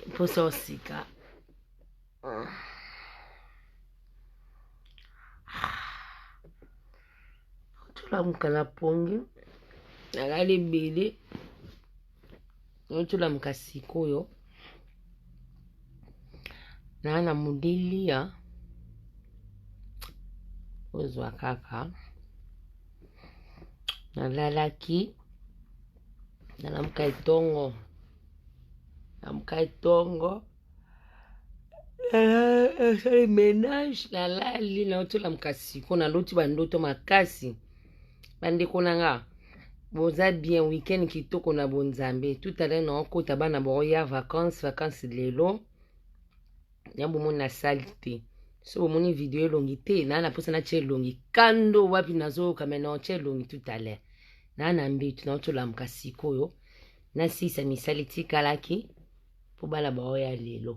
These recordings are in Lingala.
mposa osika tolamuka na pongi nalali ebele tolamuka sikoyo naa na modeliya ozwa kaka nalalaki nalamuka etongo lamuka etongo esali eh, menage nalali nauti olamuka siko naloti bandoto makasi bandeko na nga boza bien weekend kitoko na bonzambe tout à l'heure naokota bana baoya vacance vacance lelo ya bomoni na sali te so bomoni video elongi te naa na mposa natya elongi kando wapi nazoyoka mai naotya elongi tout à l'heure naa na mbetu naotya olamuka sikoyo nasisa misali tikalaki mpo bana baoya lelo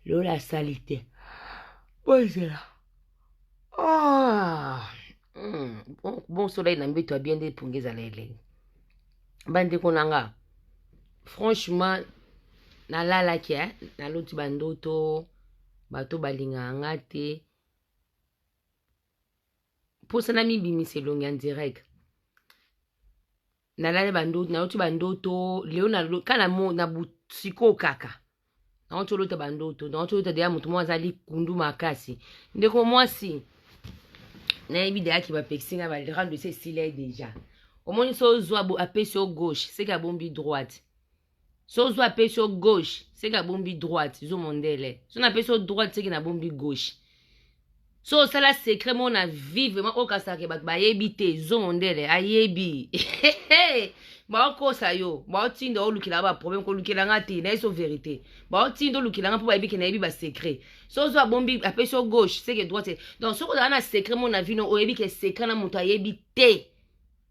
lelo nasali te bozela ah, hmm, bon, bon solai na mbetu abie nde epungi ezala elengi bandeko na nga franchement nalalaki eh? naloti bandoto bato balingaka nga te mposa na mibimisa elongi ya direct nalali bandoto naloti bandoto leo kaka na sikoyo kaka nango tolota bandoto nango tolota deya moto moko aza likundu makasi ndeko mwasi nayebi deya ki bapekisi ngai balrando esi esila ye deja omoni so ozwa apesi yo gauche seke abombi droite so ozwa apesi yo gauche seke abombi droite zo mondele so napesi yo droite seke nabombi gauche so osala secret moko na vie vraiment okasaka ke bato bayebi te zongo ndele ayebi baokosa yo baotinda olukelaka baproblème kolukela nga te nayeso verité baotinda olukela nga mpo bayebi ke nayebi basecret so ozo abombi apesi yo gauche seke droite donc soki ozala na secret moko na vino oyebi ke secret na moto ayebi te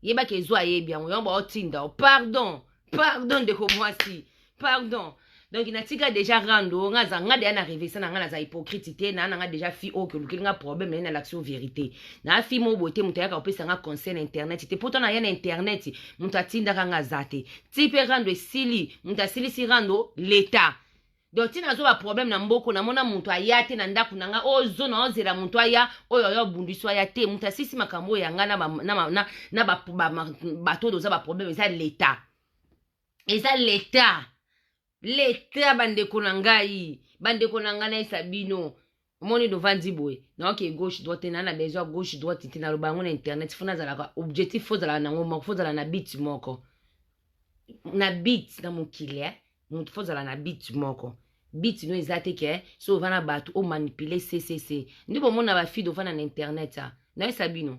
yeba ke zo ayebi yango yango baotinda o pardon pardon ndeko mwasi pardon donc natika déjà rando oyo nga aza nga deya na revesa na nga naza hypocrite te naa na nga déjà fille oyo kolukeli nga problème naye nalakisi yo vérité naa fille moko boye te moto ayaka kopesa nga conseil na internet te poto naya na internet moto atindaka nga aza te ti mpe rando esili moto asilisi rando leta donc ntina nazwa baproblème na mboko namona moto aya te na ndako na ngai oyo zona ozela moto aya oyo aya obundisi aya te moto asisi makambo oyo ya ngai na bato oyo oza baproblème eza leta eza leta leta bandeko na ngai bandeko na ngai nayesa bino omoni lovandi boye nayoki ye gauche droite te naa na besoin ya gauche droite te naloba yango na internet fo nazalaka objectif fo ozalaka nango moko fo ozala na bit moko na bit na mokili eh? motu fo ozala na bit moko bit no eza te ke so ova na bato omanipule ccc nde bomona bafide ofanda na internet a ah. nayesa bino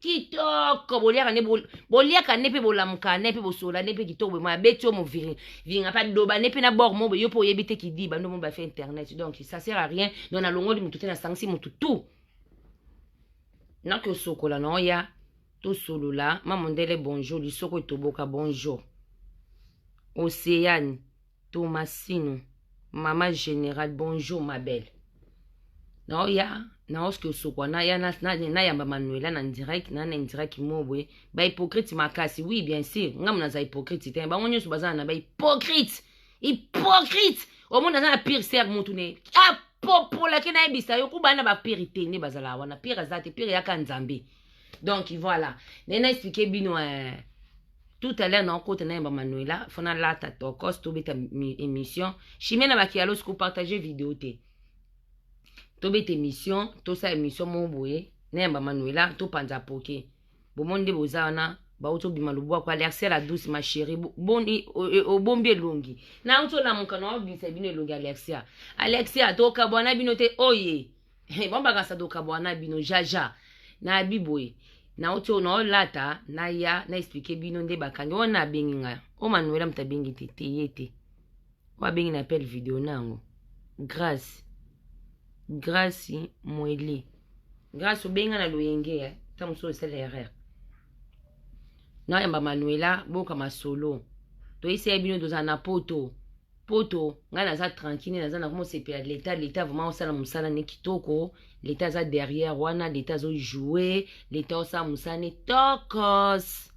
kitoko boliaka nde boliaka nde mpe bolamuka nde mpe bosola nde mpe kitoko boye moya beti yo moviringa mpe adoba nde mpe na bord mo boye yo mpe oyebi te kidi bando mo bafe internet donc ça sert à rien donc nalongoli motu te nasangisi motu tout naki osokola na oya tosolola mamondele bonjour lisoko etoboka bonjour oceane Tomasino, mama general, bonjour ma belle. Nao ya nao ske osokwa na ya nayamba Manuela na direct na na indirect mo boye ba hypocrite makasi. Oui bien sûr, ngamu naza hypocrite te. Bango nyonso bazana na ba hypocrite. Hypocrite. Omona aza na pire sœur mutu ne. Ah popolaki nayebisa yo kuba na bapiri te nde bazala wana pire aza te pire yaka nzambe donc voilà ndenge na explike bino eh, tout à l'heure naokota na yamba manuela fo nalata tokos tobeta émission chimie na bakialos kopartage video te tobeta émission tosala émission moko boye na yamba manuela topanza poke bomoni nde boza wana bauti obima lobwako alerse la douce ma chérie boni obombi elongi nauti olamuka na obimisa bino elongi alexia alexia tokabwana bino te oye oh bambakasa dokabwa na bino jaja na biboye nauti oyo naolata naya na explike bino nde bakangi oyo na abengi ngai oyo manuela moto abengi te te ye te oyo abengi na appel video na yango grace grace moele grace obengi ngai na loyenge ya nta mosusu osala erreur nayamba manuela boyoka masolo toyesaya bino tozala na poto poto ngai naza tranquille naza na komosepela leta leta vraiment osala mosala ne kitoko leta aza derrière wana leta azojoue leta osala mosala ne tokos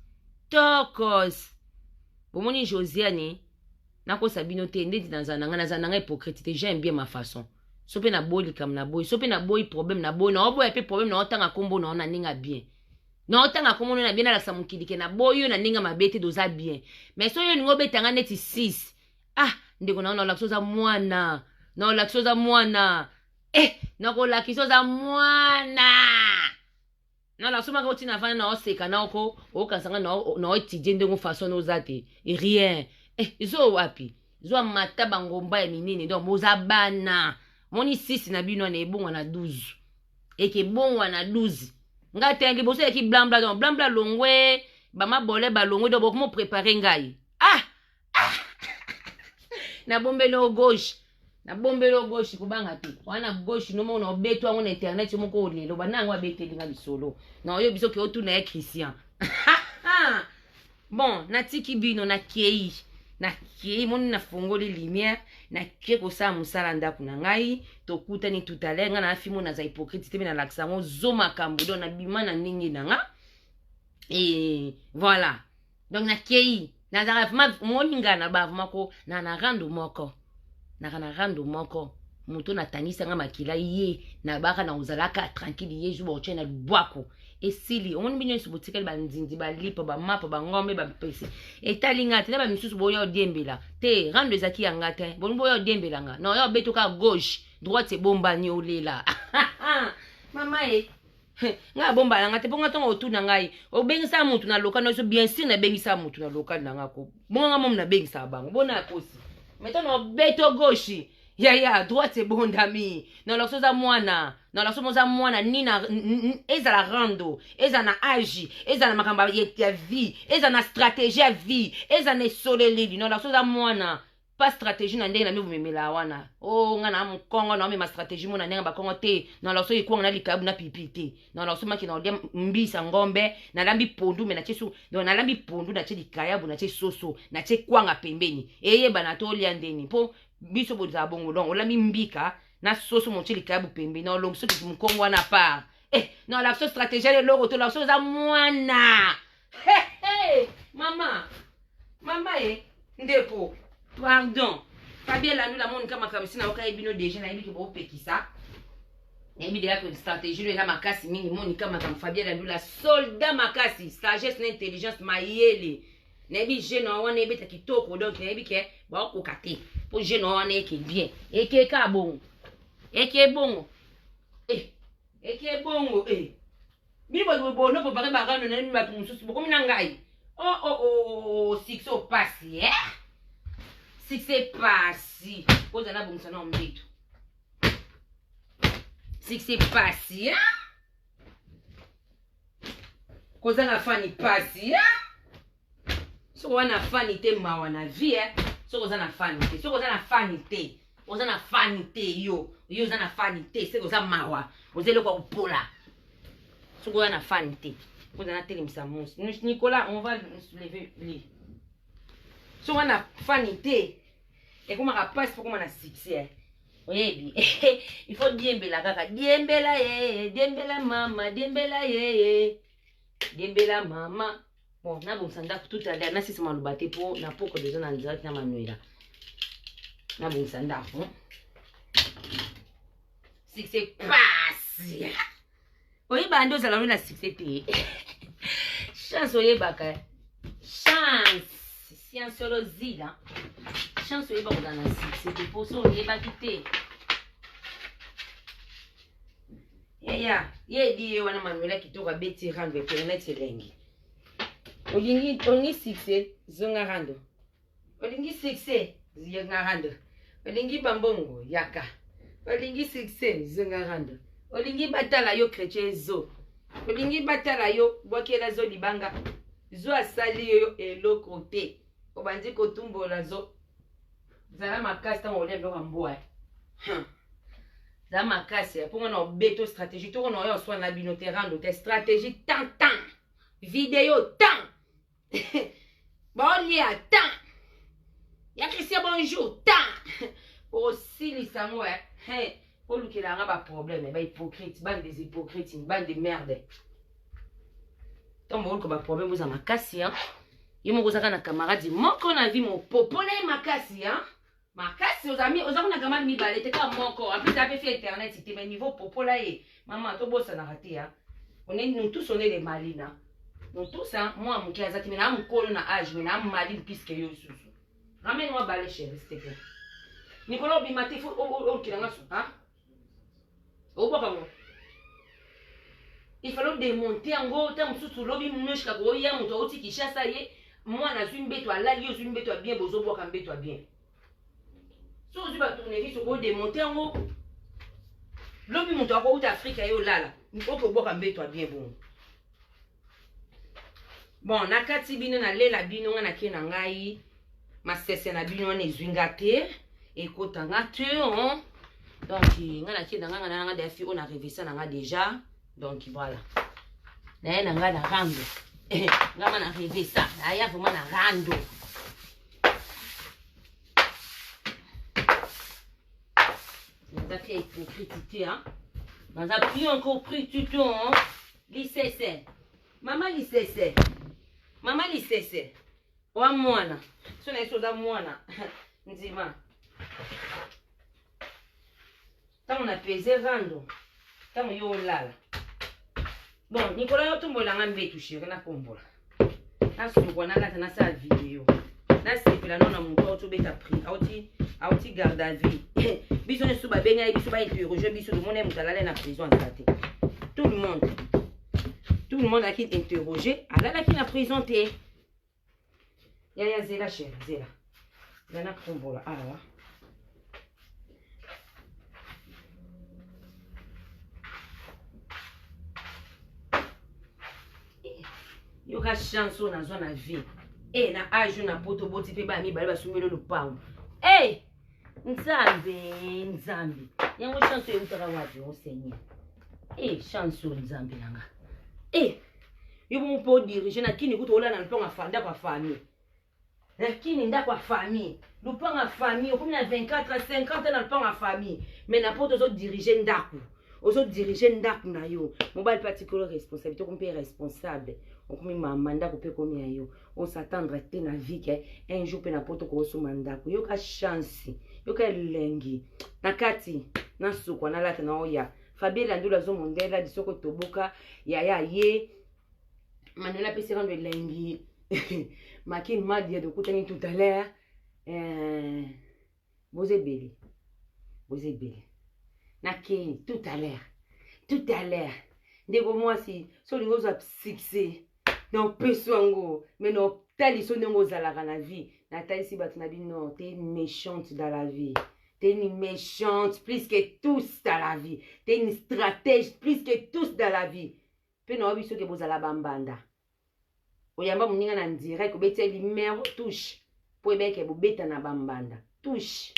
tokos bomoni josiane nakosa bino te ndeti naza na ngai naza na ngai hypocrite te j'aime bien ma façon so mpe naboyi likambo naboyi so mpe naboyi problème naboyi naoboya mpe problème naotanga nkombo nao na ndenge ya bien na otanga kombo na bien alakisa mokili ke na boyo na ndenge mabe te doza bien mais soki olingi obeta nga neti 6 ah ndeko na yo naolakisa oza mwana naolakisa oza mwana eh nakolakisa oza mwana naolakisa omaka oti na vana naoseka na oko okanisa nga naoetidie ndenge façon oza te rien eh zo wapi zwa mata bangomba ya minene donc boza bana moni 6 na bino wana ebonga na 12 ekebongwana 12 ngai te liboso yaki blambla donc blambla longwe bamabole balongwe donc bokomo prépare ngai ah, ah. nabombeli o gauche nabombeli o gauche kobanga te wana gauche nomona obeto yango na internet yo moko olelo bana yango abeteli nga lisolo na oyo biso ke otuna ya christian bon natiki bino nakei nakei moni nafongoli lumière nakei kosala mosala ndako na ngai tokutani tutale ngai na fimo naza hypocrite te mpe nalakisa yango zo makambo don nabima na ndenge na nga e voilà donc nakei nazalaka vraimen moni ngai na ba vraimen ko na na rando moko naka na rando moko moto natangisanga makila ye nabaka na ozalaka tranquille ye jour baotya na lubwaku esili omoni bino nyonso botikali banzinzi balipo bamapo bangombe bampese etali nga te na bamisusu boya odiembela te rando ezalaki ya nga te bolingi boya odiembela nga na oya obetoka gauche droite ebombani olela mama e ngai abomba na ngai te mpo ngai ntongo otuna ngai obengisa motu na lokal na biso bien sur nabengisa motu na lokal na ngai ko bongo ngai momi nabengisaka bango bona akosi meto na obeto goshi yaya droite ebondami na lakso oza mwana na lakso oza mwana ni na ezala rando ezala na age ezala na makambo ya vie ezala na stratégie ya vie ezala na esoleleli na lakso oza mwana pas stratégie na ndenge na mimi bomemela wana o oh, nga na mukongo na mema stratégie mona ndenge bakongo te na loso ikwanga na likabu na pipi te na loso maki na odia mbisa ngombe na lambi pondu me na che su donc na lambi pondu na che likayabu na che soso na che kwanga pembeni eye bana to lia ndeni po biso boza bongo donc olambi mbika na soso mo che likayabu pembeni na olomso mukongo wana part eh na loso stratégie le loko to loso za mwana He he mama mama e ndeko pardon fabien landu la moni ka makambo esi nayoka ye bino deja nayebi ke bopekisa nayebi deja ke stratégie no eza makasi mingi moni ka makambo fabien landu la soldat makasi sagesse na intelligence mayele nayebi jeune wa wana ebeta kitoko donc nayebi ke baokoka te mpo jeune wa wana eke bien eke ka bongo eke bongo eh, eke bongo eh. Bino bato boye bono bopake barano na bino bato mosusu bokomi na ngai oh, oh, oh, succès opasi eh? succès pasi kozala na bongisa nao mbeto succès pasi eh? kozanga fani pasi eh? soki oza na fani te mawa na vie eh. soki oza na fani te soki oza na fani te oza na fani te yo yo oza na fani te soki oza mawa oza eloko ya kopola soki oza na fani te oza natelemisa mosi nicolas on va lever le soki oza na fani te ekomaka mpasi mpo koma na succès eh. oyebi il faut diembela kaka diembela ye eh, eh, diembela mama diembela ye diembela mama bon nabongisa ndako tout à l'heure nasisa maloba te mpo na poko deja na nzalaki na manuela nabongisa ndako succès pasi oyebaka nde ozala no na succès te chance oyebaka chance science solo zila chance oyeba kozala na succès te mpo so oyebaki te yaya ye edi ye wana manuela kitoko abeti rando ekele neti elengi olingi olingi succès zonga rando olingi succès zonga rando olingi bambongo yaka olingi succès zonga rando olingi batala yo chrétien zo olingi batala yo bwakela zo libanga zo asali yo eloko te obandi kotumbola zo zala makasi ntango olia biloko ya mbwa za makasi ya mponga na obeto stratégie toko na oyo oswana na bino te rando te stratégie tan tan video tan baolia tan ya christian bonjour tan osilisa yango e eh. olukela yanga baproblème bahypocrite bande des hypocrite bande de merde ntango boluka baproblème boza makasi ye moko ozaka na camarade moko na vie mopopole makasi makasi ozami oza kuna gramade mibale te kaka moko en plus ape fi internet te mais niveau popola ye mama tobosanaka te ya on est nous tous on est les malina nous tous hein moi moke aza te mais naa mokolo na age mais naa maline plus que yo susu ramène moi bale chérie s'il te plaît nikolo obima te fo okila nga su hein obwaka ngo il fallait demonte yango ta mosusu lobi mnoshika koya moto auti kinshasa ye mwana azwi mbeto alali yo ozwi mbeto ya bien bozobwaka mbeto ya bien so ozwi batournevis okodemonte yango lobi moto akouta afrika ye olala okobwaka mbeto ya bien bongo bon nakati bino nalela bino ngai nake na ngai masese na bino wana ezwi nga te ekota nga te hein? donc nga nake na ngai nga nanga defi oyo na revisa na nga deja donc voilà naye na ngai na rando nga ma na revisa naya vraimen na rando naza te hypocrite te hein? naza bien encore pris tuton hein? Lisese. Mama lisese. Mama lisese. Wa mwana. So na yesu oza mwana. Ndima. Tango na peze rando. Tango yo olala. Bon, Nicolas yo tombola nga mbetu chérie na kombola. nasukwa nalata nasala video nasepela no na moto auti obeta prix auti auti garde à vie biso nyonso babengi ye biso bainterroge biso tomoni moto alali na prison aza te tout le monde tout le monde ayaki interroge alalaki na prison te yaya zela chéri zela nga nakombola awa yoka chance oyo nazwa na vie e na age na poto boti mpe baya mibale basungeli lopango e nzambe nzambe yango chance oyo eutaka wapi o seigneur e chance oyo nzambe na nga e yo bongo mpe odirige na kini kutu olala na lopango ya ndako ya famille na kini ndako ya famille lopango ya famille okomi na 24 50 na lopango ya famille mais na poto ozodirige ndako ozodirige ndako na yo mobali mpe atikolo responsabilité okomi mpe responsable okomi mama ndako mpe ekomi ya yo osatendre te na vie ke un jour mpe na poto koosomba ndako yoka chance yoka elengi na kati nasukwa nalata na oya fabie landulu azo mondela lisoko toboka yaya ye manuela apesi kando elengi makin madia tokutani tout à l'heure eh, boza ebele boza ebele nakei tout à l'heure tout à l'heure ndeko mwasi so olingi ozwa succès na opeso yango me na otaliso ndenge ozalaka na vie natalisi bato na bino te méchante dans la vie T'es une méchante plus que tous dans la vie. T'es une stratège plus que tous dans la vie. Pe na obi soki bozala bambanda. Oyamba muninga na direct obeti numéro touche. Po ebeke bobeta na bambanda. Touche.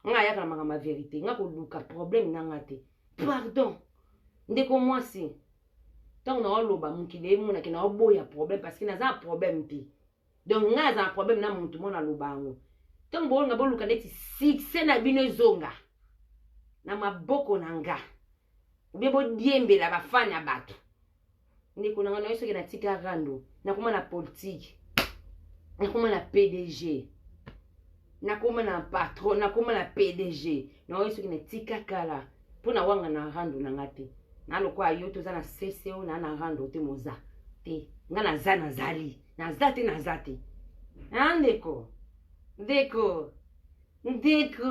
nga ayaka na makambo ya verite nga koluka problème na nga te pardon ndeko mwasi ntango naoloba mokili emonake naoboya problème parce que naza na problème te donc ngai naza na problème na motu mwana aloba yango ntango boolonga boluka neti succès na bino ezonga na maboko na nga obie bodiembela bafani ya bato ndeko na ngai nayo soki natika rando nakoma na politike nakoma na pdg nakoma na patron nakoma na pdg nayo soki natika kala mpo na wanga na rando na ngai te na lokola yo toza na cco na na rando te moza te ngai naza nazali naza te naza te a ndeko ndeko ndeko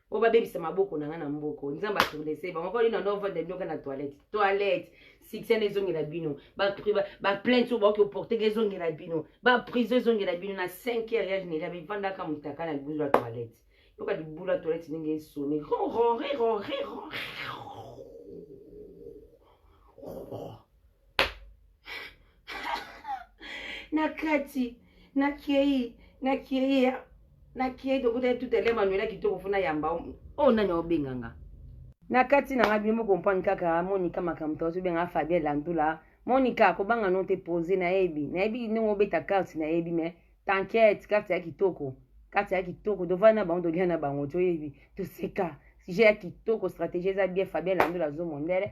po babebisa maboko na nga na mboko nzambe atournese bango koli nando ovanda bino ka na toilette toilette succès na ezongela bino baplainte oyo baoki oporteka ezongela bino baprison ezongela bino na 5 heure ya général bivandaka motaka na libulu ya toilette yoka libulu ya toilette ndenge esoni na kati na kei na kei na kei tokuta tout à l'heure manuela kitoko fona yamba oyo oh, nani obenga nga na kati na ngai bino bokomprendre kaka monika makambo to azobenga fabien landula monika kobanga no te pose nayebi nayebi ndenge obeta karte nayebi mais t'inquiète karte ya kitoko karte ya kitoko tovanda na bango tolia na bango toyebi toseka sujet ya kitoko stratégie eza bien fabien landula azo mondele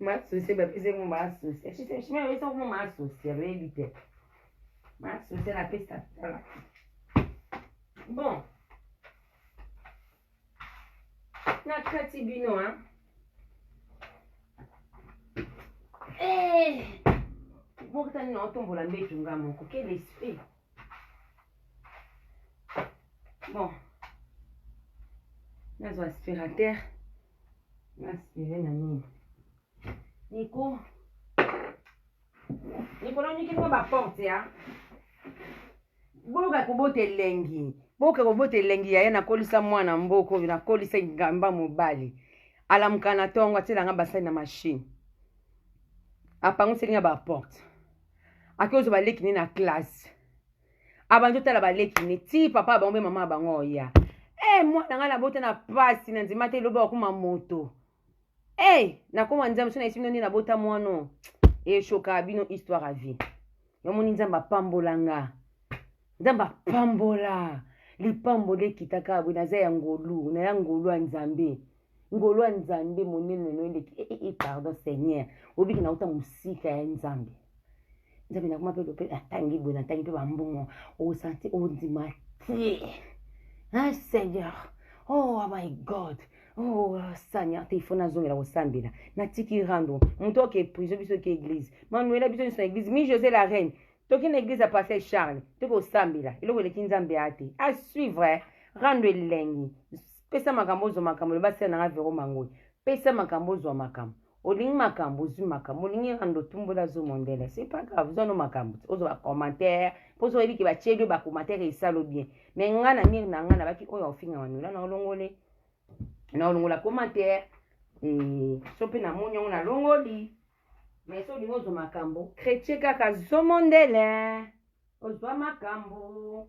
Masose bapesa yango masose. Shima yebisa yango masose ya bayebi te. Masose napesa tala. Bon. Na kati bino hein. Eh. Bokitani na otombola mbetu nga moko. Quel esprit. bon nazwa aspirateur naspire na nini niko likolo nyiki ngo baporte ya boyoka kobota elengi boyoka kobota elengi yaya nakolisa mwana mboko oyo nakolisa ngamba mobali alamuka na ntongo atielanga basali na mashine apangusi elinga baporte ake ozwa baleki ne na classe abandi otala baleki ne ti papa ya bango mpe mama ya bango oya e mwana ngai nabota na mpasi na nzima te elobi akoma moto e nakoma nzambe so nayesi bino nde nabota mwano eshoka bino histoire ya vie yamoni nzambe apambola nga nzambe apambola lipambo lekitaka boye naza ya ngolu naya ngolu ya nzambe ngolo ya nzambe monene no eleki e, e, e, pardon seigneur obiki nauta mosika ya nzambe nzambe nakoma mpe lope natangi boye natangi mpe bambongo osanti ondima te hein seigneur oh my god oh seigneur te ifo nazongela kosambela natiki rando moto oke priso biso oke église manuela biso nyonso na église mi josé la reine toki na église ya pasteur charles tokosambela eloko eleki nzambe ya te asuivre rando elengi pesa makambo ozwa makambo loba sere na nga vero mangoyi pesa makambo ozwa makambo olingi makambo ozwi makambo olingi rando tumbola zo mondele c'est pas grave zwa no makambo te ozwa bacommentaire mpo ozo oyebi ke batyeli yo bacommentaire esalo bien mais nga na mire na nga nabaki oyo aofinga manula na olongole na olongola commentaire eh, so mpe namoni yango nalongoli mais so olingi ozwa makambo chrétien kaka zomondele ozwa makambo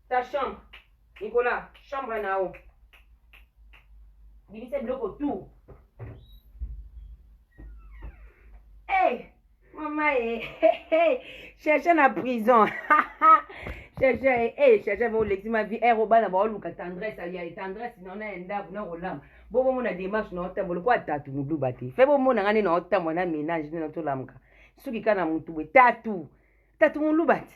ta chambre nikola chambre na yo bimisa biloko tout hey, mama ye hey, hey. cherche na prison cherche eh, hey, eh, cherche olekisi ma vie ero eh, bana baoluka tendresse ya tendresse na na ya ndako na kolamba bo bomona démarche na otambo lokola tatu moluba te fe bomona nga nde na otambo na ménage nde na tolamuka soki kaka na motu boye tatu tatu moluba te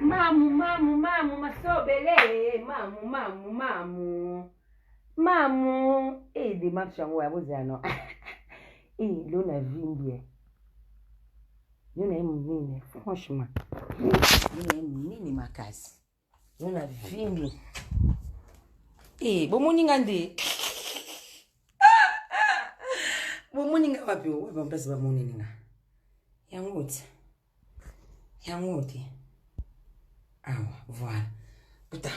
Mamu, mamu, mamu, masobele, mamu, mamu, mamu. Mamu, eh, démarche yango ya bozela no. Eh, lo na vimbi eh. Yo na ye monene, franchement. Yo na ye monene makasi. yo na vimbi e bomoni nga nde bomoni nga wapi wapi bampasi bamoneli nga yango te yango te awa voilà puta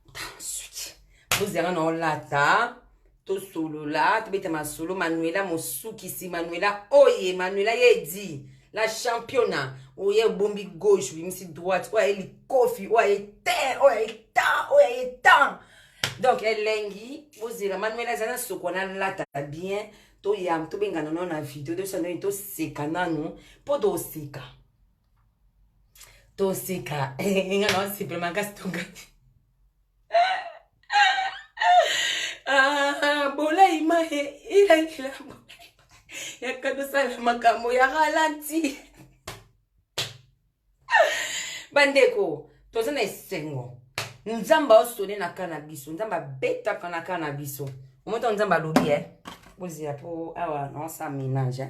puta suki bozi yanga na olata tosolola tobeta masolo manuela mosukisi manuela oye manuela ye edi la championa oye obombi gauche obimisi droite oyo aye likofi oyo aye te oyo aye ta oyo aye ta donc elengi bozela manuela eza na soko nalata bien toyam tobengana nano na video tosala nini toseka nano mpo toseka toseka nga na osepela makasi tongani ah, bolai ma elakila yaka tosala makambo ya ralenti bandeko toza na esengo nzambe aosone na kaa na biso nzambe abetaka na kaa na biso omoto nzambe alobi e eh? bozela mpo awa naosala menage eh?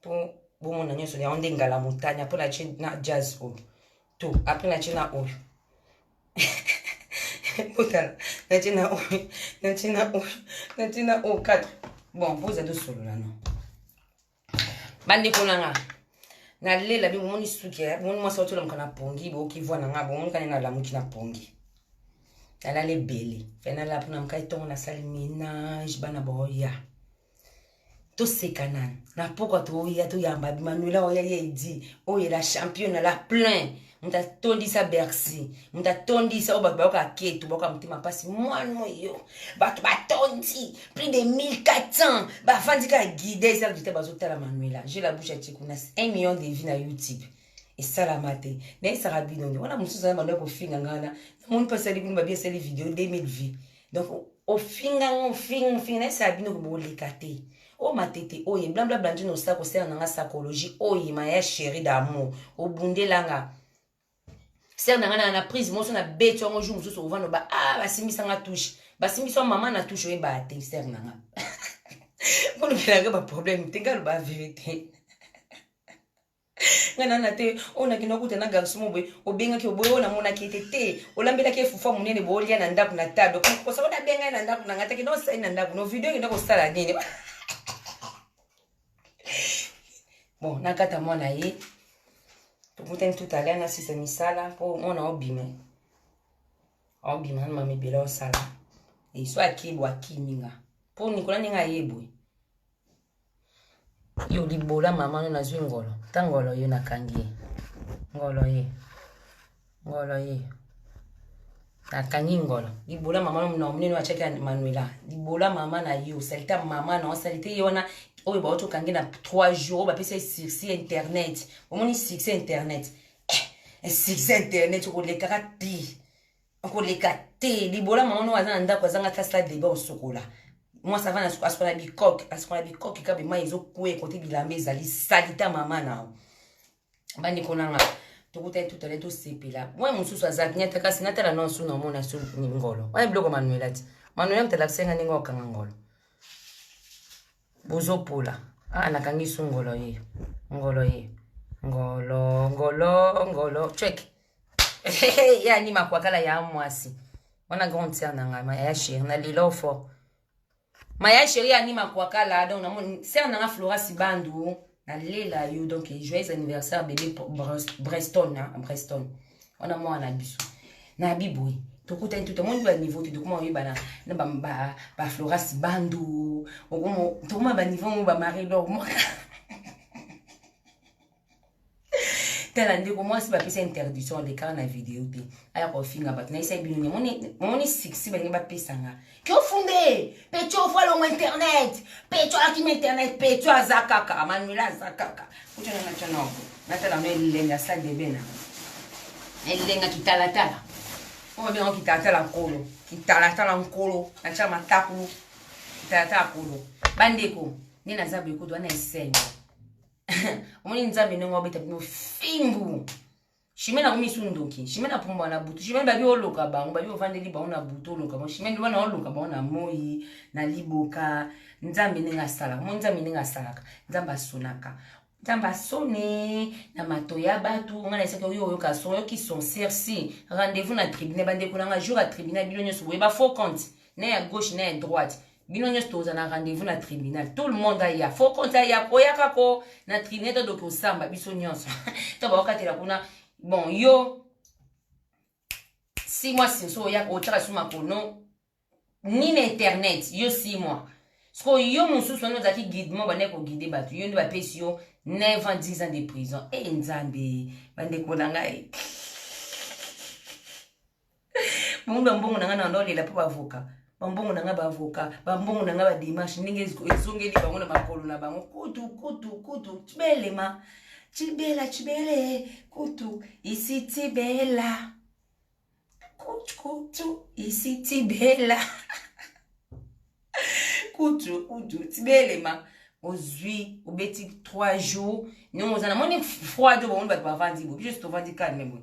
mpo bomona nyonso yango nde ngala motanya mpo natie na jazz oyo to apres natie na oyo botala natie na oyo natie na oyo natie na oyo 4 bon boza tosolola no bandeko na nga nalela bi bomoni suki eh? bomoni mwasi watolamuka na pongi boyoki voi na nga bomoni kani nalamuki na pongi nalala ebele fe nalala mpona mokai ntongo nasali ménage bana baoya toseka nani na pokwa toya toyamba manuela oyo yali edi oyo la championa la plein moto atondisa bercy moto atondisa oyo bato bayoka ketu bayoka motema mpasi mwana oyo bato batondi plus de 1400 bafandi kaka guide eza kutu te bazotala manuela je la bouche atie kuna 1 million de vie na youtube esalama te nayesaka bino nde wana mosusu aza manuela kofinga ngana namoni mpasi alikuni babi esali video 2000 vie donc ofinga ngo ofinga ofinga nayesala bino koboleka te o oh, matete oye blablabla nzini osila kosala na nga psychologie oye oh, maya chéri d'amour obundela nga sere na nga na na prise moso na beti yango jour mosusu ovanda ba a ah, basimbisa nga touche basimbisa wa mama na touche oyebaa te sere na nga mpo lobelaka baproblème te nga loba verité nga na na te oyo nakenda okuta na garçon mo boye obengaki oboye oyo namonaki ete te olambelaki efufa monene boye olia na ndako na table kosa oyo nabenga ye na ndako na ngai te kenda osali na ndako no video ekenda kosala nini bon nakata mwana ye tokutani tout à l'heure nasisa misala mpo mwana obima obima na mamibela osala esu akebwa akimi nga mpo nikola ndenge ayebwe yo libola mama no nazwi ngolo ta ngolo yo nakangi ye ngolo ye ngolo ye nakangi ngolo libola mama no na monene atyaki ya manuela libola mama na yo salite ya mama na salite ye wana oyo bauti okangi na 3 jours oyo bapesa ye succès internet omoni succès internet eh, succès internet okolekaka te okoleka te libola mama no aza na ndako azanga ata stade deba osokola mwasi avana asokola bikoke asokola bikoke kaka bemai ezokwea ekote bilamba ezali salita mama nao bandeko nanga tokutani tutale tosepela mwa mosusu azalaki nyata kasi natala no nsu naomona so ngolo wana biloko manuela ti manuela motalakisenga ndenge okanga ngolo bozopola aa ah, nakangi su ngolo ye ngolo ye ngolo ngolo ngolo ceke ye ani makwakala ya mwasi wana grande sœur na ngai maya chérie na lelo fort maya chérie ani makwakala donc na sœur na nga Flora Sibandu na lela yo donc joyeux anniversaire bébé Breston hein, Breston wana mwana biso na biboye tokutani to tomoni ba niveau te tokoma oyebana na ba ba, ba Flora Sibandu okoma tokoma ba niveau mo ba Marie Laure tala ndeko mwasi bapesa interdiction lekaka na video te aya kofinga bato nayesa bino ni omoni succès balingi bapesanga kiofunde pecho ofo alongo internet pecho akima internet pecho aza kaka manuela aza kaka kutonanga tonoko natala no elenga sadebe na elenga kitalatala oyo babenga kitalatala nkolo kitalatala nkolo natya matakulu kitalatala nkolo bandeko nde naza boyekodo wana esengo omoni nzambe ndenge wabeta bino fimbu shimene akomi isu ndoki shimene apumbwa na butu shimene babi oloka bango babi ovandeli bango na butu oloka bango shimene wana oloka bango na moi na liboka nzambe ndenge asalaka mo nzambe ndenge asalaka nzambe asonaka nzambe asone na mato ya bato ngai naisaki oyo oyoka son oyoki son cerci rendez-vous na tribunal bandeko na ngai jour ya tribunal bino nyonso boye ba faux compte na ya gauche na ya droite bino nyonso toza na rendez-vous na tribunal tout le monde aya fo compte aya koyaka ko na tribunal to doki osamba biso nyonso to bakokatela kuna bon yo si mois sinso oyaka otyaka su makono ni na internet yo si mois sikoyo yo mosusu wana ozalaki guidement bandaki koguide bato yo nde bapesi yo 9 ans 10 ans de prison e nzambe bandeko na ngai Bongo mbongo na nga na ndolela po ba avocat. Ba mbongo na nga ba avocat, ba mbongo na nga ba démarche ndenge ezongeli bango na makolo na bango. Kutu kutu kutu tibelema. Tibela tibele kutu isi tibela. Kutu kutu isi tibela. kutu kutu tibelema. ozwi obeti 3 jours ndenge oza namoni froid oyo bamoni bato bavandi bo biso tovandi calme boye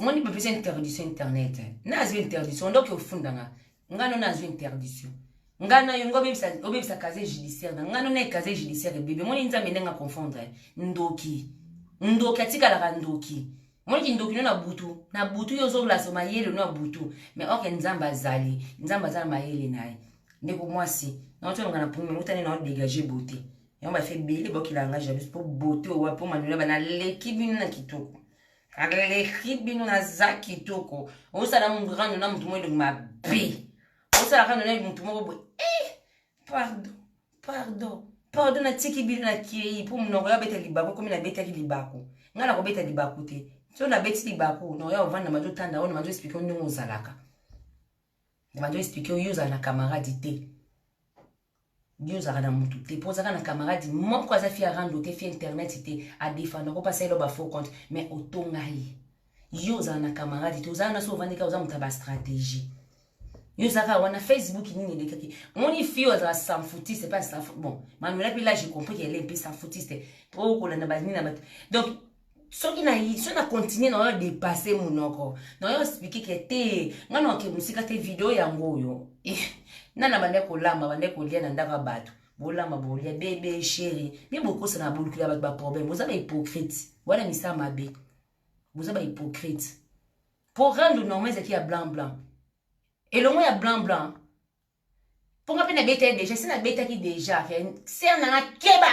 moni bapesa interdiction internet na azwi interdiction ndoki ofunda nga nga no na azwi interdiction nga na yo nga obebisa casier judiciaire na nga no na casier judiciaire ebebe moni nzambe ndenge aconfondre ndoki ndoki atikalaka ndoki moni kindoki no na butu na butu yo ozolaso mayele no ya butu mais orke nzambe azali nzambe aza na mayele na ye ndeko mwasi naotyolonga na pumi mutani na odegage bote yango bafi ebele bokila nga jalouse mpo bote owa mpo manuela bana leki bino na kitoko aleki bino naza kitoko osala murano na motu moko elongi mabe osala kano na motu moko boye eh, pardon pardon pardon natiki bino nakei mpo monoko ya beta libaku komi nabetaki libaku ngai nakobeta libaku te so nabeti libaku noko ya ovanda mazo tanda oyo mazo explike ndenge ozalaka mazo explike yo ozala na camarade te yo ozalaka na mutu te mpo ozalaka na camarade moko aza fi ya rando te fi ya internet te adefanda ko pasala ba faux compte mais otonga ye yo ozala na camarade te ozala na so ovandi kaka oza moto ya bastratégie yo oza kaka wana facebook nini elekaki moni fi oyo azala sanfoutiste mpe asanfou bon manuela mpe lage compris ke ele mpe sanfoutiste mpo okolanda banini na bato donc soki na soki na continue na oyo depasse monoko na oyo explike ke te nga na oke mosika te video yango oyo eh, na na bande kolamba bande kolia na ndako ya bato bolamba bolia bebe sheri mpe bokosana bolukela bato baproblème boza bahypocrite wana misala mabe boza bahypocrite mpo rando normal ezalaki ya blanc blanc elongo ya blanc blanc mpo nga mpe nabetaki deja si nabetaki deja ser nanga keba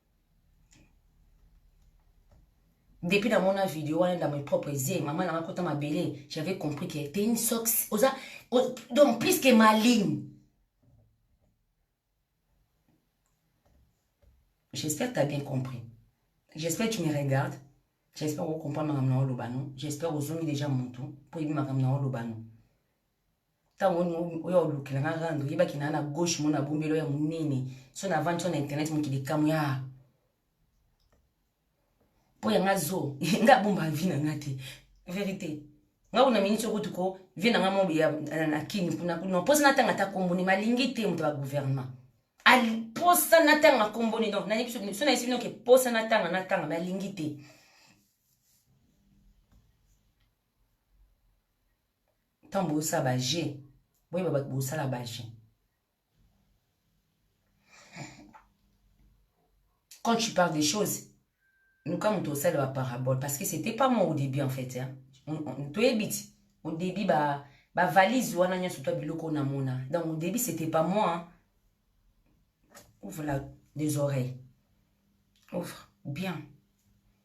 depuis na mona video wana dans mes propres yeux maman nanga kota mabele j'avais compris que t'es une sox oza donc plus que maligne j'espère que t'as bien compris j'espère que tu me regardes j'espère que comprends makambo na oloba no j'espère ozongi déjà motu mpo oyebi makambo na oloba no ntango oyo olukela nga rando oyebaki naa na gauche mona bombelo ya monene so na vandi so na internet mokili kamwe ya mpo ya nga zo nga abomba vi na nga te verité nga kuna miniti okutu ko vie na nga mo ya na kini kuna kuna mposa natanga ata komboni malingi te moto ya gouvernement mposa natanga komboni donc nayebi so nayesi bino ke mposa natanga natanga malingi te ntango bozosala baje boyeba bato bosala baje quand tu parles des choses luka moto osala baparabole parce que c'était pas moi au début en fait toyebi ti au début ba bavalise wana nyonso to biloko namona donc au début c'était pas moi hein. ouvre la des oreilles ouvre bien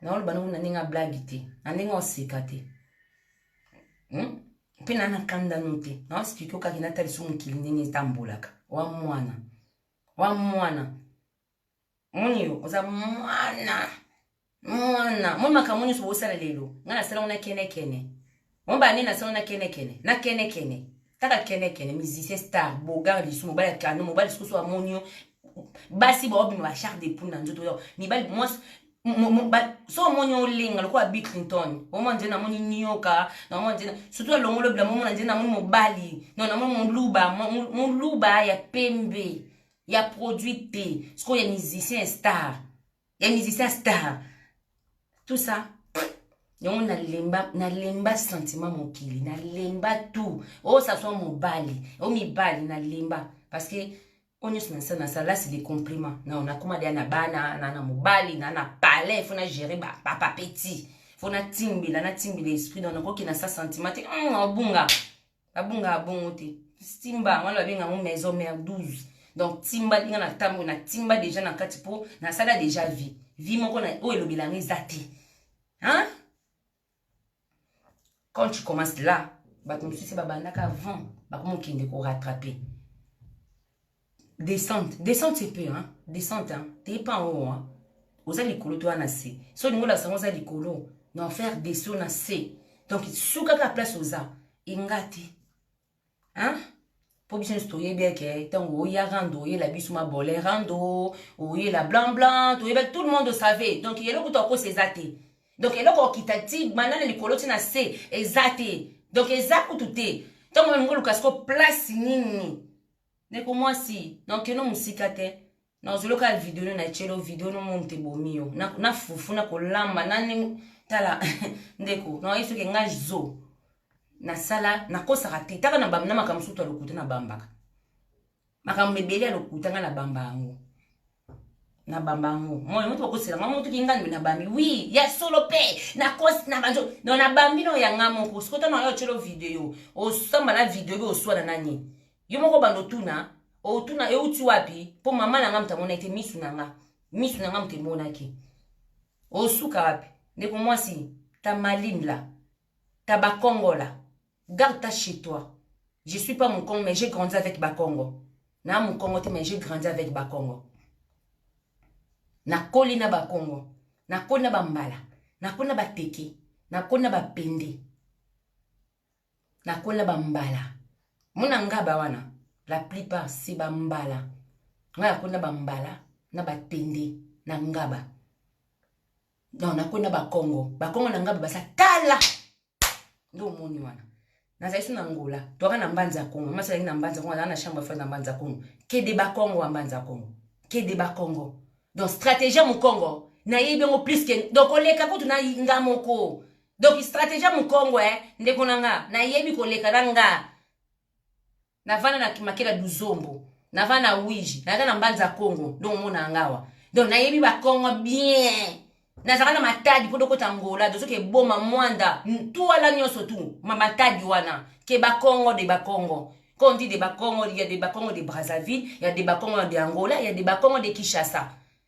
naoloba nango na ndenge ya blagi te na ndenge oseka te hmm? mpe na nakandano te naospike okaki natalisa mokili ndenge etambolaka wa mwana wa mwana moni yo oza mwana mwana moni makambo nyonso bosala lelo ngai nasalango na kenekene Moba nini na solo na kene kene. Na kene kene. Taka kene kene musicien star bogar lisu mobali ya kano mobali susu amoni yo basi baobima ba char de poule na nzoto yo mibali mwasi so omoni olenga lokola bi clinton omona nzene namoni nioka namona nzene surtout alongolo bila momona nzene namoni mobali no namoni moluba moluba ya pembe ya produit te sikoyo ya musicien star ya musicien star tout ça yango nalemba nalemba sentiment mokili nalemba tout oyo saswa mobali oyo mibali nalemba parce que oyo nyonso nasa nasa lasi de compliment nao nakoma deya na bana na na mobali na na palais fo na gere bapapa petit fo natimbela natimbela esprit nao nakoki na sa sentiment te hmm, obunga babungaka bongo te timba yango wana babenga yango maison mère 12 donc timba ndinga na ntango na timba deja na kati mpo nasala deja vie vie moko oyo elobela yango eza te hein? quand tu commences là bato mosusu babandaka avant bakomokende korattrape Descente, descente un peu hein. Descente hein. T'es pas en haut hein. Oza likolo toi na se. So lingo la sango za likolo. Na faire des sauts na se. Donc suka ka place oza. Ingati. Hein? mpo biso nyonso toyebi eke ntango oya rando oyela biso mabole rando oyela blanc blanc toyeba tout le monde osavait donc eloko to akosa eza te donc eloko okita ti banda na likolo ti na se eza te donc eza kutu te ntango meme ngoluka siko place nini Ndeko mwasi, nankeno mosika te. Nazolo kaka video no na chelo video no mom te bomi yo. Na, na fufu na kolamba na ndenge tala ndeko na yesu ke nga zo nasala nakosaka te taka na bamna makambo sutu ya lokuta na bambaka makambo ebele ya lokuta nga na bamba yango na bamba yango moi moto bakosela nga moto kinga nde na bambi wi ya solo mpe nakosi na banjo no na bambi no ya nga moko sikota na yo otyelo video osamba na video mpe oswana nani yo moko bando otuna otuna euti wapi mpo mama na nga moto amonaki te misu na nga misu na nga moto emonaki osuka wapi ndeko mwasi ta maline la ta bakongola garde ta chez toi je suis pas mukongo mais j'ai grandi avec bakongo na mukongo te mais j'ai grandi avec bakongo nakoli na bakongo nakoli na bambala nakoli na bateke nakoli na bapende nakoli na bambala mona ngaba wana la plupart se bambala ngai nakoli na bambala na batende na ngaba non nakwe na bakongo bakongo na ngai baza kala nde omoni wana nazali so na ngola toaka na mbanza kongo masi azalaki na mbanza kongo azalaki na chambre fai na mbanza kongo kede bakongo ya mbanza kongo kede bakongo donc stratégie ya mokongo nayebi yango plus ke donc koleka kutu na nga moko donc stratégie ya mokongo e eh, ndeko na nga nayebi koleka na nga navanda na kimakela duzombo navanda na wiji naza na mbanza congo donc omona yanga awa donc nayebi bakongo bien nazalaka na matadi mpo dokota ngola dozoki eboma mwanda ntwala nyonso tu matadi wana ke bakongo de bakongo Quand on dit des Bakongo, il y a des Bakongo de Brazzaville, il y a des Bakongo de Angola, il y a des Bakongo de Kinshasa.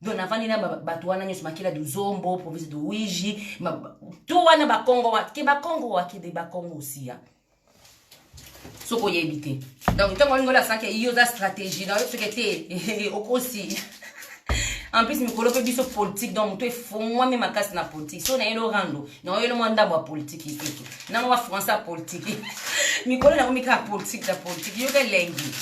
donc navandi na bato wana nyonso makila duzombo province de wiji to wana bakongo wa ke bakongo wakende bakongo osiya soki oyebi te donc ntango walingo lasaki iyo oza stratégie na yo soki te okosi en plus mikolo mpe biso politique donc moto efongwami makasi na politique so nayeli orando naoyeli mwa ndambo ya politike ikutu nango wa français ya politike mikolo nango mikaka politike na politike yoka elengi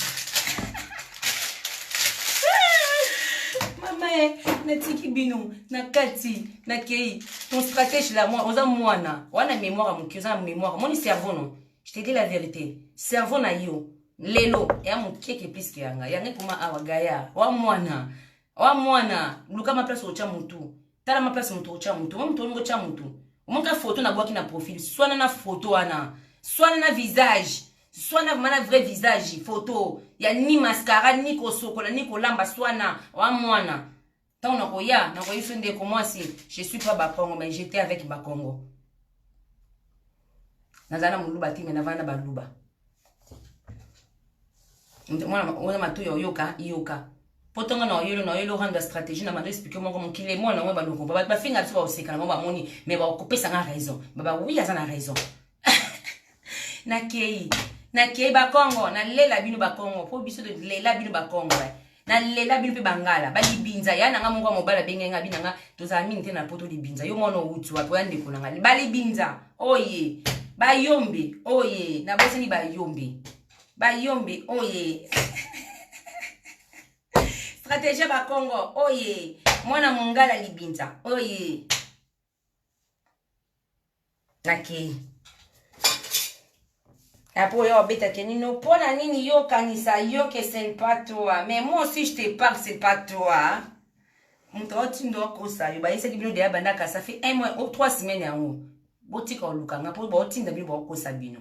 mamae natiki bino na kati nakei ton stratège la mwa oza mwana wana mémoire ya moke oza na mémoire omoni cerveau no je te dis la vérité cerveau na yo lelo ya mokeke pliske yanga yanga ekoma awa gaya wa mwana wa mwana luka maplace otya motu tala maplace motu otya motu omo motu olingo otya motu omoka foto nabwaki na profil swana na foto wana swana na visage swana vraiment na vrai visage photo ya ni mascara ni kosokola ni kolamba swana wa mwana ntango nakoya nakoyi biso ndeko mwasi je suis pas bakongo mais j'étais avec bakongo naza na moluba te me navana na baluba mwana oyo matoyi oyoka yoka mpo ntongo na oyelo na oyelo rando ya stratégie na mando explike moko mokili emona yango baluku bafinga biso baosekana bango bamoni mais bakopesa nga raison baba wi aza na raison nakei nakei bakongo nalela bino bakongo mpo biso tolela bino bakongo eh. nalela bino mpe bangala balibinza ya nanga moko ya mobali abenge nga bina nga tozala mingi te na poto libinza yo mwana owuti wapi oya ndeko na ngai balibinza oye bayombe oye nabosani bayombe bayombe oye strategie bakongo oye mwana mongala libinza oye nakei après oya obeta kenino mpo na nini yo okanisa yo ke ce n'est pas toi mais moi aussi je te parle c'est pas toi moto aotindo akosa yo bayesaki bino deya bandaka ça fait un mois o trois semaine yango botika olukanga mpo baotinda bino baokosa bino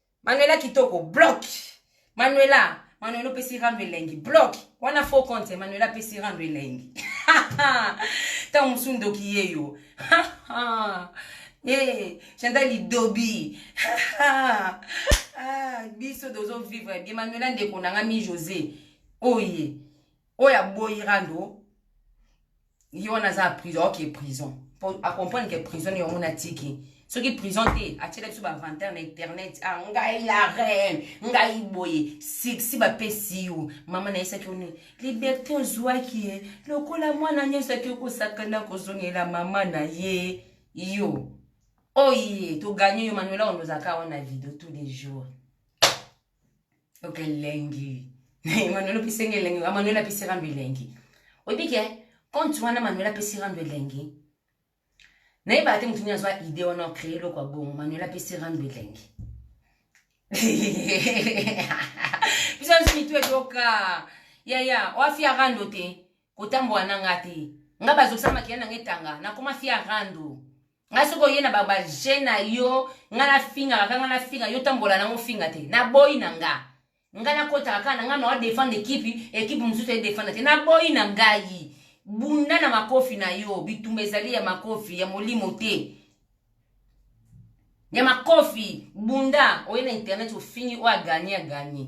Manuela kitoko bloc. Manuela, Manuela opesi rando elengi bloc. Wana faux compte Manuela apesi rando elengi. Tango mosusu ndoki ye yo. Eh, Chantal lidobi. Ah, biso dozo vivre bien Manuela ndeko na nga mi José. Oye. Oya boyi rando. ye wana aza na prison oke prison mpo acomprendre ke prison yango natiki soki prison te atyela biso bavantere na internet ah, ngai la reine ngai boye siksi bapesi yo mama nayesaki yo nini liberte ozwaki ye lokola mwana nyonso ake kosakana kozongela mama na ye yo oye oh toganye yo manuela wana ozalaka wana video tous les jours ok elengi manuel opesi nga elengi manuel apesi rando elengi oyebi ke compte wana manuel apesi rando elengi nayebaka te motu nini azwa idée wana ocree eloko ya bongo manuel apesi rando elengi biso nyonso mitu edoka yaya oafia rando te kotambola na nga te nga bazokisa makila na nga etanga nakoma fia rando nga soki oye na babaje na yo nga nafingaka ka nga nafinga yo tambola nango finga te naboyi na nga nga nakotaka kaka na nga na odefendre ekipe ekipe mosusu edefendre te naboyi na ngai bunda na makofi na yo bitumba ezali ya makofi ya molimo te ya makofi bunda oye na internet ofingi oyo aganye aganye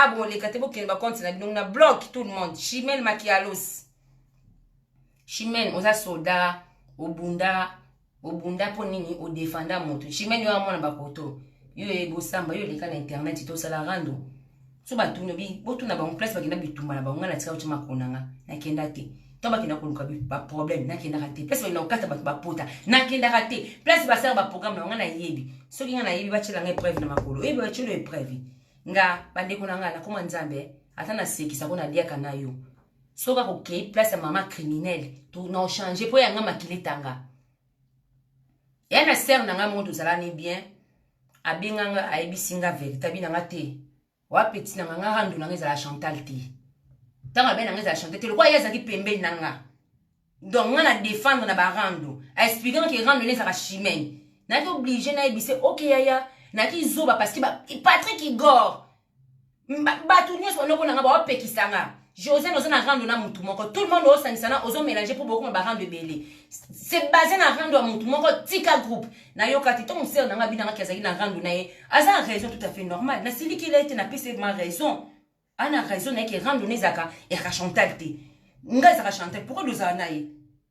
Ah bon leka te bokende ba compte na bino na block tout le monde chimel makialos chimel oza soldat obunda obunda mpo nini odefanda moto chimene yo amona bakoto yo ebosamba yo oleka na internet tosala rando so batuni obi botuna bango place bakenda bitumba na bango ngai natika otima kona nga nakenda te to bakenda koluka baproblème nakendaka te place bakenda kokata bato bapota nakendaka te place basala baprogramme na bango ngai nayebi soki ngai nayebi batyela ngai épreuve na makolo oyebi batyelo épreuve nga bandeko na nga nakoma nzambe ata nasekisa mpo naliaka na yo soki akokei place ya mama criminele naochange mpo yanga makila etanga ya na sere na ngai moko tozalani bien abenga nga ayebisi nga verite abi na nga te wapeti na nga nga rando na nga ezala chantal te ntango abe na nga ezala chantal te lokola ye azalaki pembeni na nga donc nga na defendre na barando aexpliquant ke rando ene ezalaka chimene nayaki oblige nayebise oke yaya nayaki zoba parce que patrick igor bato nyonso banoko na nga baopekisa nga josiane oza na rando na motu moko tout le monde osangisa na ozo mélange mpo bokoma barando ebele se base na rando ya motu moko tika groupe nayoka te ntango sere na nga abinangaki azalaki na rando na ye aza na raison tout à fait normal nasilikela ye te napesa ye ma raison ana raison na ye ke rando na ezalaka ezalaka chantal te ngai ezalaka chantal pourkoi dozala na ye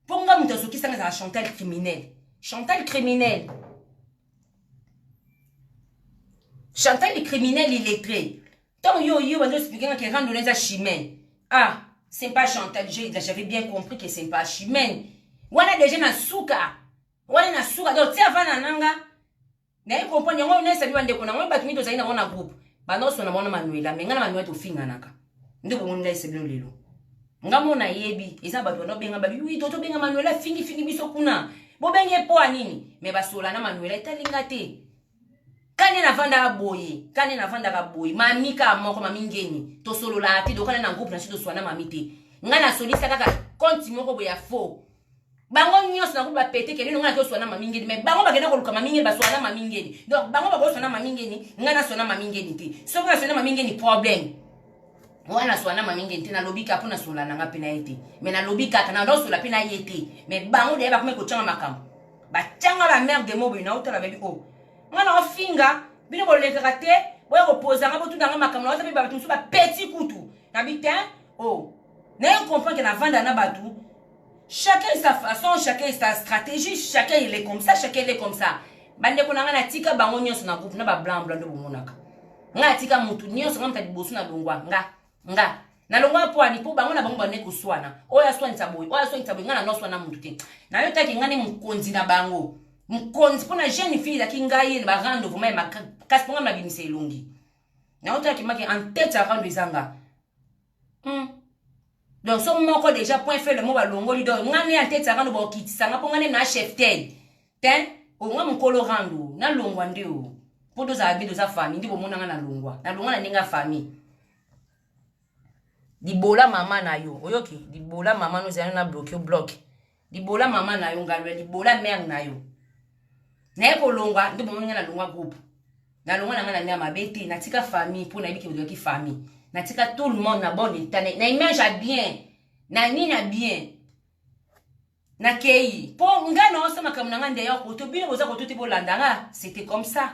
mpo ngai moto azokisanga ezalaka chantal criminel chantal criminel chantal le criminel illettré ntango yo yo banzo explike nga ke rando na eza chimene ah c'est pas chantal j'avais bien compris que c'est pas chimene wana deja na suka wana na suka donc ti avana na nga naye comprendre yango na esabi bandeko na yango bato mingi tozali na yango na groupe banoso na mwana manuela me ngai na manuela tofinganaka nde bomoni ngai esebino lelo nga mo nayebi eza bato bana obenga babi wi toto benga manuela fingifingi biso kuna bobengi ye mpo ya nini me basola na manuela etali nga te kane navandaka boye kane navandaka boye mami kaka moko mami ngeni tosololaka te dokana na groupe na biso toswana mami te ngai nasolisa kaka konti moko boye ya faux bango nyonso na kutu bapete kende nonga nazoswa na mami ngeni mais bango bakenda koluka mami ngeni baswa na mami ngeni donc bango bakoswa na mami ngeni ngai naswa na mami ngeni te soki naswa na mami ngeni problème wana naswa na mami ngeni te nalobi kaka mpo nasola na ngai mpe na ye te mais nalobi kaka naosola mpe na ye te mais bango deya bakomaki kotyanga makambo batyanga la mare de moboye naotala babi o oh, ngai naofinga bino bolekaka te boya kopoza ngai botuna ngai makambo naota mpe bato mosusu bapeti kutu nabi te o oh, naye comprendre ke navanda na bato chacun est sa façon chacun est sa stratégie chacun il est comme ça chacun il est comme ça bandeko na ngai natika bango nyonso na groupe na bablanc blanc nde bomonaka ngai natika motu nyonso ngai moto ya liboso nalongwa nga nga nalongwa mpo ani mpo bango na bango bande koswana oyo aswanisa boye oyo aswanisa boye ngai nanoswana motu te nayotaki ngai ne mokonzi na bango mokonzi mpo na jeune fille ezalaki ngai ye na barando vraimen ya makasi mpo ngai nabimisa elongi nayotaki maki en tete ya rando ezanga Hmm. Donc so moko déjà point fait le mot balongoli donc nga ne anteta kano ba kitisa nga ponga ne na chef tel. Ten o nga mukolo rando na longwa nde o. Po doza abi doza famille ndi bomona nga na longwa. Na longwa na ninga famille. Dibola mama na yo. Oyoki? Dibola mama no zana na bloquer bloquer. libola mama na yo ngalo ya libola mare na yo naye kolongwa nde bomoni ngai nalongwa groupe nalongwa na ngai na mare mabe te natika famille mpo nayebi keozalaki famille natika tout le monde na bon etat na image ya bien na nini ya bien nakei mpo ngai naosa makambo na ngai ndeya koto bino boza koto te bolanda nga c'était comme ça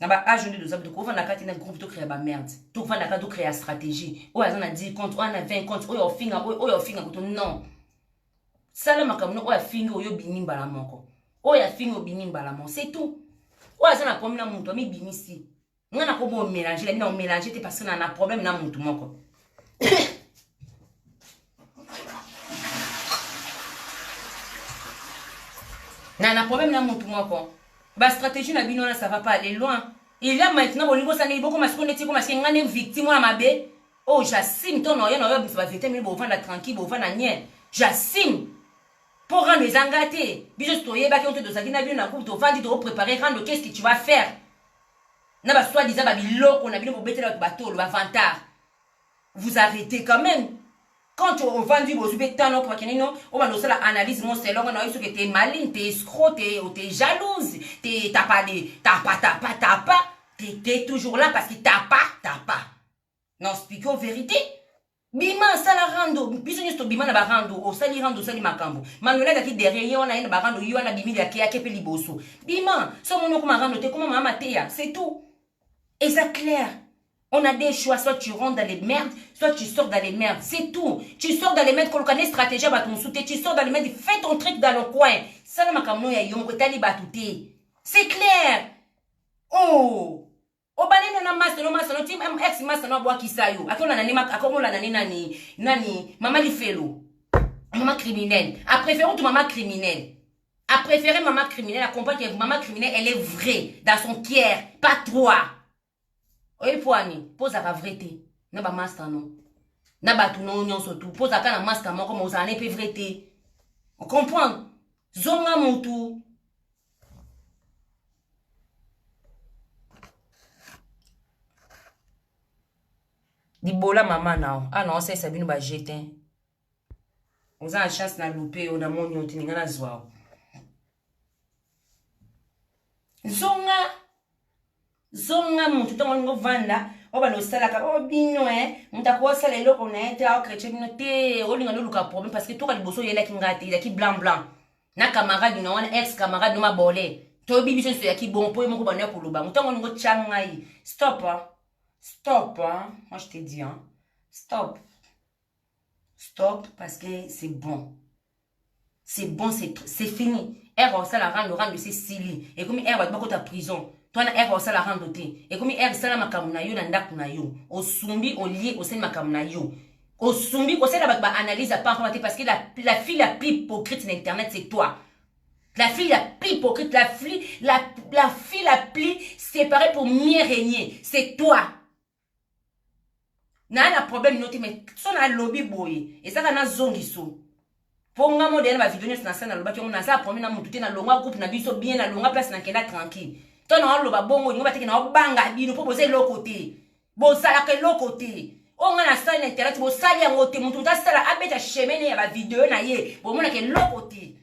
na ba age nde toza tokofanda kati na groupe tokrea bamerde tokofanda kati tokrea stratégie oyo aza na 10 compte oyo ana 20 compte oyo ofinga oyo oyo ofinga kutu non sala makambo no oyo afingi oyo obimi mbala moko oyo afingi obimi mbala moko c'est tout oyo aza na problème na moto amibimisi ngai nakobo omélange labi na omélange te parce que na na problème na moto moko na na problème na mutu moko ba stratégie na bino wana ça va pas aller loin il y a maintenant bolingi bosala ndenge bokoma siko neti ekoma sike ngai nde victime wana mabe oyo oh, jasime to noye noye obimisa bavete mini bovanda tranquille bovanda nien jasime mpo rando eza nga te biso si toyebaki oyo te tozalaki na bino na groupe tovandi tokoprépare rando qu'est ce que tu vas faire na baswadisa babiloko na bino bobetela bato batolo bavantard vous arrêtez quand même quand ovandi bozwi mpe temps noko bakende no obanda osala analyse mo selongo na yo soki te maline te escro te te jalouse te tapa de tapa tapa tapa tete toujours là parce que tapa tapa na expliqueo vérité bima asala rando biso nyonso tobima na barando osali rando osali makambo manuel azalaki derrière ye wana ye na barando ye wana bimi liakeyake mpe liboso bima so omoni okoma rando te koma mama mateya c'est tout eza claire On a des choix, soit tu rentres dans les merdes, soit tu sors dans les merdes. C'est tout. Tu sors dans les merdes, koloka ne stratégie batu musute, tu sors dans les merdes, fais ton truc dans le coin. Sala makamno ya yo moko tali batu te. C'est clair. Oh. obale na na masolo masolo ti ex masolo abwakisa yo akolana ne akomolana ne nani nani mama lifelo mama criminel apréfère otu mama criminel apréfère mama criminel acomprendre que mama criminel elle est vraie dans son kier pas trois oyebi mpo ani mpo ozalaka vrai te na bamasta no na bato no nyonso tu mpo ozalaka na masta moko ma ozala ne mpe vrai te ocomprendre zonga motu libola mama nao ana ah osalisa bino ba jetin oza na chance na lupe yo namoni yo te ninga nazwa yo zonga zonga motu ntango olingi ovanda oyo bana osalaka o oh, bino e eh, moto akosala eloko na ye te aokretye bino te olinga noluka problème parce que toka liboso oyelaki ngai te ezalaki blanc blanc na camarade na wana ex camarade no mabole toyebi biso nyonso eyaki bon mpo ye moko banda ya koloba moto yango olingi otya ngai stop stop moi je te dis stop stop parce que c'est bon c'est bon c'est fini ere osala rando rando esi esili ekomi ere bato bakota prison to wana ere osala rando te ekomi ere sala makambo na yo na ndako na yo osumbi olie osali makambo na yo osumbi kosala bato baanalyse ya pampama te parce que la, la fille la plus hypocrite na internet c'est toi la fille la plus hypocrite la fille la, la fille la plus séparée pour mieux régner c'est toi naa na problème no te mais so nalobi boye ezaka na zongiso mpo nga mo deya na bavideo nyonso nasala nalobaki yango naza problème na motu te nalonga groupe na biso bien nalonga place nakenda tranquille to naoloba bongo olingo bateke naobanga bino mpo boza eloko te bozalaka eloko te oyo ngai nasali na internet bosali yango te motu motu asala abeta chemene ya bavideo na ye bomonaka eloko te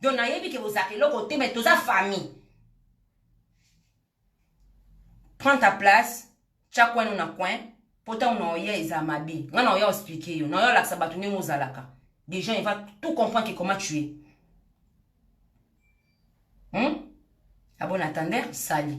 donc nayebi ke bozalaka eloko te mai toza famille prends ta place tya coin no na coin mpo ntango na oya eza mabe ngai na oya explike yo na oya olakisa bato ndenge ozalaka des gens il va tout comprendre que comment tu es hmm? abona ah tander sali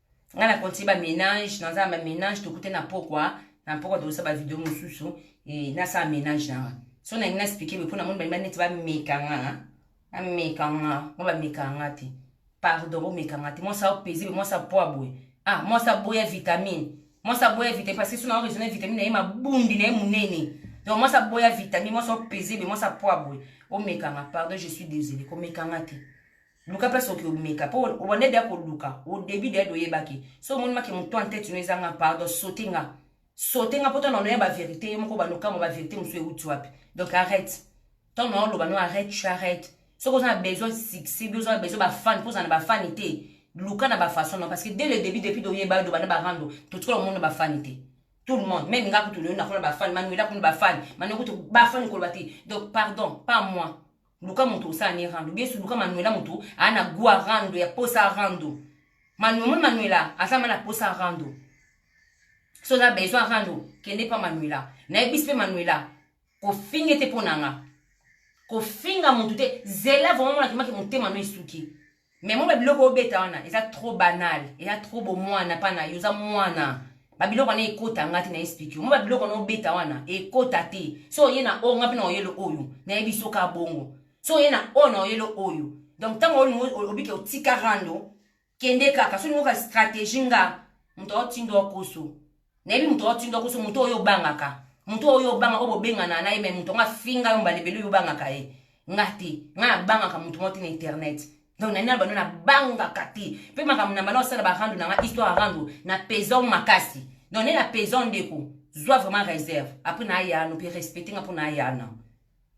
nga na continue ba ménage naza na ba ménage tokute na pokwa na pokwa tokosa ba video mosusu e, nasala ménage na nga so nalingi na explike boye mpo na moni balingi baneti bameka nga bameka nga nga bameka nga te pardon bomeka nga te mwasi apese be mwasi apoa boye ah mwasi aboya vitamine mwasi aboya vitamine parce que so na oresone vitamine na ye mabundi na ye monene donc mwasi aboya vitamine mwasi apese be mwasi apoa boye omeka nga pardon je suis désolé komeka nga te luka place oki omeka po obanda deya koluka au début deya de oyebaki so omoni make moto en tete no eza nga pardon sote nga sote nga po ntango nanoya baverité yo moko obanda okamwa baverité mosusu euti wapi donc arrête ntango na oloba no arrête tu arrête soki oza na besoin succès bi oza na besoin bafane mpo oza na bafane te luka na bafaçon no parce que dès le début depuis de oyeba yo dobanda barando totikola omona bafane te tout le monde meme nga kutu leyo nakona bafane manuela kuna bafane manuela kutu bafane koloba te donc pardon pas moi luka moto osala ne rando biesu luka manuela moto aa na gua rando ya posa rando manu omoni manuela aza ma na posa rando so oza besoin rando kende mpa manuela nayebisi mpe manuela kofinga ete mpo na nga kofinga motu te zela vraimen monakimaki motema no esuki mais mwa babiloko obeta wana eza trop banal eza trop bomwana mpa na yo oza mwana babiloko wana ekota nga te na explike mwa babiloko wana obeta wana ekota te so oye na oyo nga mpe na oyelo oyo nayebi soka bongo so oye na oyo na oyelo oyo donc ntango obike otika rando kende kaka so olingoka stratégie nga moto aotindo okoso Nayebi moto otinda koso moto oyo obangaka moto oyo obanga oyo bobengana na ye me moto yango afinga yo mbala ebele oyo obangaka ye nga te nga nabangaka moto moko te na internet donc na nina bando nabangaka te mpe makambo na mbala osala barando na nga histoire arando na pezon makasi donc nde na pezon ndeko zwa vraiment réserve apres naayano mpe respecte nga mpo naayana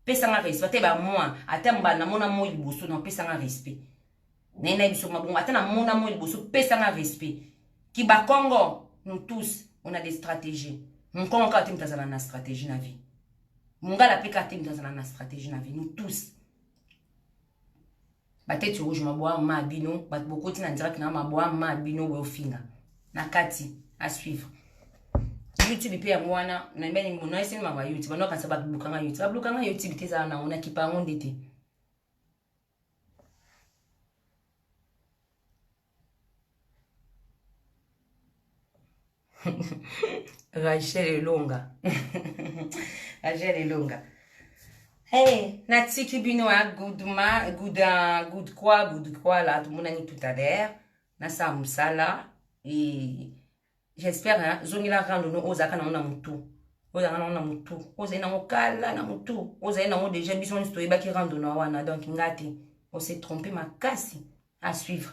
pesanga respect ata bamwa ata mbala namona moi liboso na pesanga respect naye nayebi soki mabongo ata na mona moi liboso pesa nga respect kibakongo nous tous on a des stratégies mukongo kaka te moto azala na stratégie na vie mungala mpe kaka te moto azala na stratégie na vie nous tous batete rouge maboa ma bino bato bokoti na direct na maboa ma bino boyofinga na kati à suivre youtube mpe yango wana nabeni monaeseni maba youtube banokanisa bablukanga youtube bablukanga youtube te ezala nango nakipa yango nde te Rachel Elonga. Rachel Elonga. Hey, natiki bino ya good ma good uh, good quoi good quoi là tomonani tout à l'heure nasala mosala e J'espère hein, zongela rando no ozaka nango na mutu. Ozaka nango na mutu. Ozali nango kala na mutu. Ozali nango déjà biso nionso toyebaki rando na wana donc ngati on s'est trompé makasi à suivre.